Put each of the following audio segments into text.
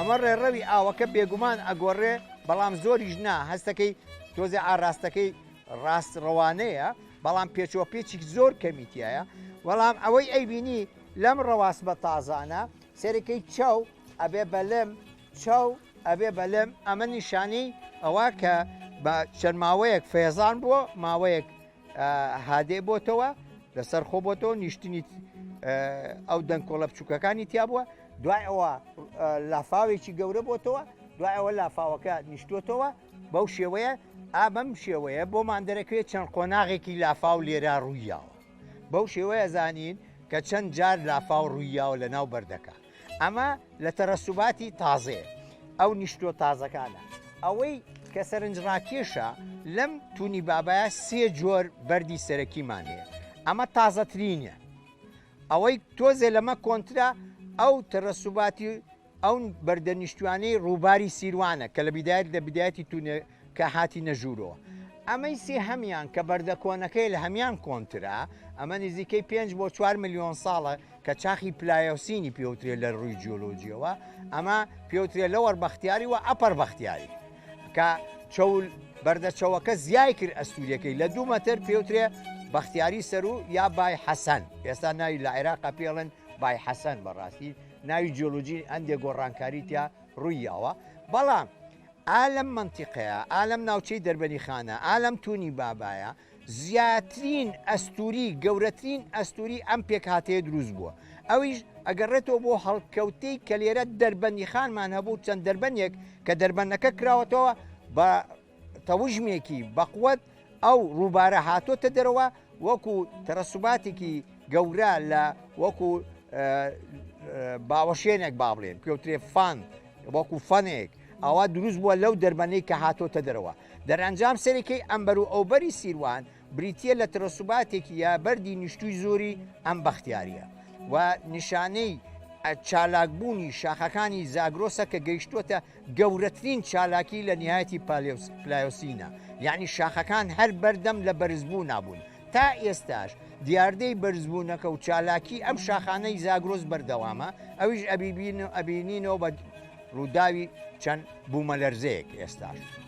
ئەمە ڕێڕەوی ئاوەکە بێگومان ئەگۆڕێ بەڵام زۆریش نا هەستەکەی تۆزێ ئاراستەکەی ڕاست ڕەوانەیە بەڵام پێچوە پێچی زۆر کەمیتیایە بەڵام ئەوەی ئەیبینی لەم ڕەواست بە تازانە سەرەکەی چاو ئەبێ بەلم چاو ئەبێ بەلم ئەمە نیشانی ئەوە کە بە چەند ماوەیەک فێزان بووە ماوەیەک هادێ بۆتەوە لەسەر خۆ بۆتەوە نیشتنی ئەو دەنکۆڵە بچووکەکانی تیا بووە دوای ئەوە لافاوێکی گەورە بۆتەوە دوای ئەوە لافاوەکە نیشتوتەوە بەو شێوەیە ئابم شێوەیە بۆمان دەرەکەێت چەند قۆناغێکی لافاو لێرا ڕوویاوە بەو شێوەیە زانین کە چەند جار لافاو ڕوویاوە لە ناو بەردەکە ئەمە لە تەرەسوباتی تازەیە ئەو نیشتۆ تازەکانە ئەوەی کە سەرنجڕاکێشە لەم تونی بابایە سێ جۆر بەری سەرەکیمان هەیە ئەمە تازەترینە ئەوەی تۆزێ لەمە کۆنترا ئەو تەرەسوباتی ئەو بەردەنیشتوانەی ڕووباری سیروانە کە لە بدایت لە بدایەتی کە هاتینە ژوورۆ. ئەمەی سێهەمیان کە بەردە کۆنەکەی لە هەمیان کۆنترە، ئەمە نزیکەی پێنج بۆ چوار ملیۆن ساڵە کە چاخی پلایۆسینی پێوترێ لە رووی جیۆلۆجیەوە، ئەمە پێوترێ لۆوەر بەختیاری و ئەپەر بەختیاری. کە چەول بەردە چەوەکە زیای کرد ئەستوریەکەی لە دوو مەتر پێوترێ بەختیاری سەروو یا بای حەسەن، ئێستا ناوی لە عێراقا پێڵێن بای حەسەن بەڕاستی ناوی جیۆلۆجی هەندێ گۆڕانکاری تیا رووی یاوە بەڵام، ئا لەم مەنتیقەیە، ئا لەم ناوچەی دەربەنیخانە، ئا لەم تونی بابایە زیاترین ئەستووری، گەورەترین ئەستووری ئەم پێکهاتەیە دروست بووە. ئەویش ئەگەڕێتەوە بۆ هەڵکەوتەی کە لێرە دەربەندیخانمان هەبوو، چەند دەربەندێک کە دەربەندەکە کراوەتەوە بە تەوژمێکی بەقوەت، ئەو ڕووبارە هاتۆتە دەرەوە وەکو تەرەسوباتێکی گەورە لە وەکو باوەشێنێک با بڵێن پێوترێ فان وەکو فەنێک ئەوە دروست بووە لەو دەربەنەی کە هاتۆتە دەرەوە دەرەنجام سەرەکەی ئەمبەر و ئەوبەری سیروان بریتە لە ترەسوباتێکی یا بەری نیشتوی زۆری ئەم بەختیاریە و نیشانەی چالاکبوونی شاخەکانی زاگرۆسە کە گەیشتوتە گەورەترین چالاکی لە نیهایەتی پالێوس، پلایۆسینە، یانی شاخەکان هەر بەردەم لە بەرزبوونا بوون. تا ئێستاش دیاردەی بەرزبوونەکە و چالاکی ئەم شاخانەی زاگرۆس بەردەوامە، ئەویش ئەبیبینۆ ئەبینینۆ بە رووداوی چەند بوومەلەرزەیەک ئێستاش.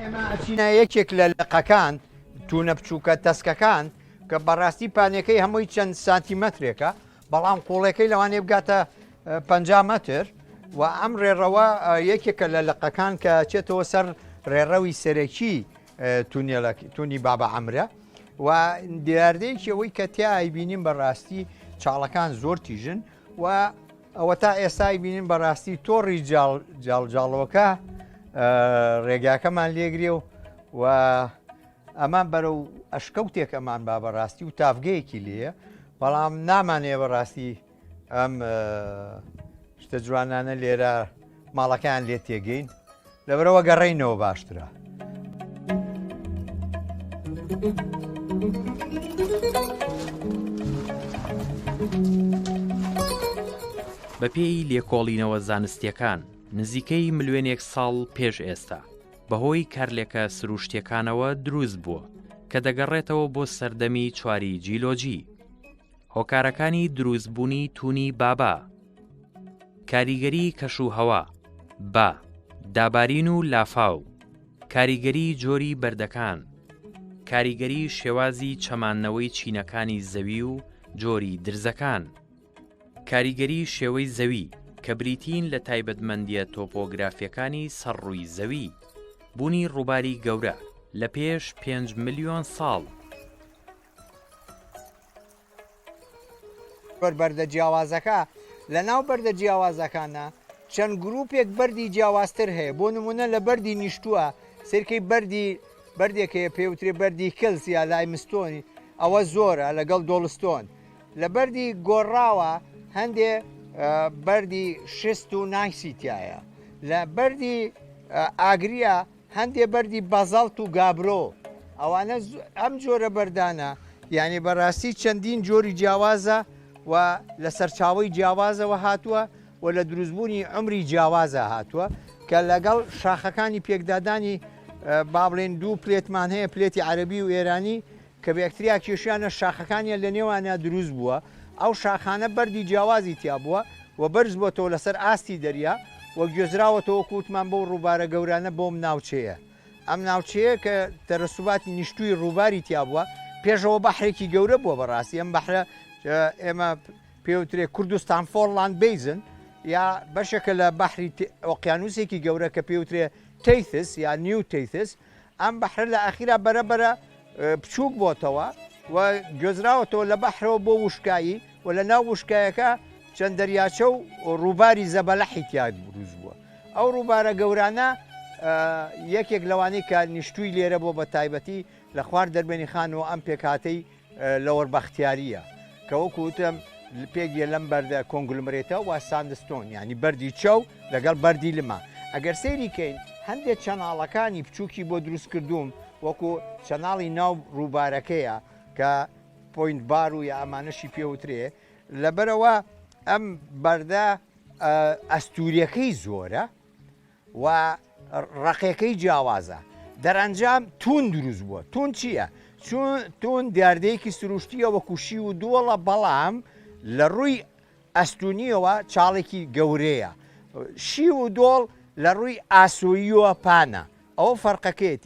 ئێمە ئەچینە یەکێک لە لقەکان تونە بچووکە تەسکەکان کە بەڕاستی پانەکەی هەمووی چەند سانتیمەترێکە بەڵام قوڵەکەی لەوانێ بگاتە پ مەتر و ئەم ڕێڕەوە یەکێکە لە لقەکان کە چێتەوە سەر ڕێڕەوی سەرەکی تونێلەکی تونی بابە ئەمرە و دیاردەیەکی ئەوەی کە تیای بینیم بەڕاستی چاڵەکان زۆر تیژن و ئەوەتا ئێستا ئەیبینین بەڕاستی تۆڕی جاڵجاڵۆکە ڕێگاکەمان لێگرێ و و ئەمان بەرەو ئەشکەوتێک ئەمان با بەڕاستی و تافگەیەکی لێە بەڵام نامانەیە بەڕاستی ئەم شتە جوانانە لێرە ماڵەکەیان لێ تێگەین لەبەرەوە گەڕینەوە باشترە. بەپێی لێکۆڵینەوە زانستیەکان نزیکەی ملوێنێک ساڵ پێش ئێستا بەهۆی کارلێکە سروشتیەکانەوە دروست بووە کە دەگەڕێتەوە بۆ سەردەمی چواری جیلۆجی هۆکارەکانی دروستبوونی تونی بابا کاریگەری کەش و هەوا، با، دابارین و لافاو، کاریگەری جۆری بەردەکان، کاریگەری شێوازی چەماننەوەی چینەکانی زەوی و جۆری درزەکان، کاریگەری شێوەی زەوی کە بریتین لە تایبەتمەندییە تۆپۆگرافییەکانی سەر ڕووی زەوی، بوونی ڕووباری گەورە لە پێش پێنج ملیۆن ساڵ، بەر بەردە جیاوازەکە، لە ناو بەردە جیاوازەکانە چەند گروپێک بەردی جیاوازتر هەیە، بۆ نمونە لە بەردی نیشتووە سرکەی بەردی بەردێک هەیە پێی وترێ بەردی کلس یا لایمستۆن ئەوە زۆرە لەگەڵ دۆڵستۆن، لە بەردی گۆڕراوە هەندێ بەردی شست و نایسی تیایە، لە بەردی ئاگریە هەندێ بەردی بازاڵت و گابرۆ ئەوانە ئەم جۆرە بەردانە یانێ بەڕاستی چەندین جۆری جیاوازە و لە سەرچاوی جیاوازەوە هاتووە و لە دروستبوونی ئەمری جیاوازە هاتووە کە لەگەڵ شاخەکانی پێکدادانی بابلێن دوو پلێتمان هەیە پلێتی عەربی و ئێرانی کە بەکتریا کێشیانە شاخەکانیان لە نێوانیا دروست بووە، ئەو شاخانە بەردی جیاوازی تیا بووە و بەرز بۆتەوە لەسەر ئاستی دەریا و گوێزراوەتەوە وەکو وتمان بەو ڕووبارە گەورانە بۆم ناوچەیە ئەم ناوچەیە کە تەرەسوباتی نیشتووی ڕووباری تیا بووە پێشەوە بەحرێکی گەورە بووە بەڕاستی ئەم بەحرە ئێمە پێ وترێ کوردستان فۆرڵاند بەیزن یا بەشێکە لە بەحری ئۆقیانووسێکی گەورە کە پێ وترێ تەیثس یا نیو تەیثس ئەم بەحرە لە ئاخیرا بەرە بەرە بچووک بۆتەوە و گوێزراوەتەوە لە بەحرەوە بۆ وشکایی و لە ناو وشکایەکە چەند دەریاچە و ڕووباری زەبەلەحی تیا بروز بووە ئەو ڕووبارە گەورانە یەکێک لەوانەی کە نیشتووی لێرە بۆ بە تایبەتی لە خوار دەربێنی خانەوە ئەم پێکاتەی لۆر بەختیارییە کە وەکو وتم پێک یە لەم بەردە کۆنگلمرێتە وە ساندستۆن یعنی بەردی چەو لەگەڵ بەردی لما ئەگەر سەیری کەین هەندێک چەناڵەکانی بچووکی بۆ دروست کردووم وەکو چەناڵی ناو ڕووبارەکەیە کە پۆینت بار و یا ئەمانەشی پێ وترێ لەبەرەوە ئەم بەردە ئەستووریەکەی زۆرە و ڕەقێکەی جیاوازە دەرئەنجام توون دروست بووە توون چییە؟ توون دیاردەیەکی سروشتییە وەکو شی و دۆڵە بەڵام لە ڕووی ئەستوونییەوە چاڵێکی گەورەیە شی و دۆڵ لە ڕووی ئاسۆییەوە پانە ئەوە فەرقەکەیەتی.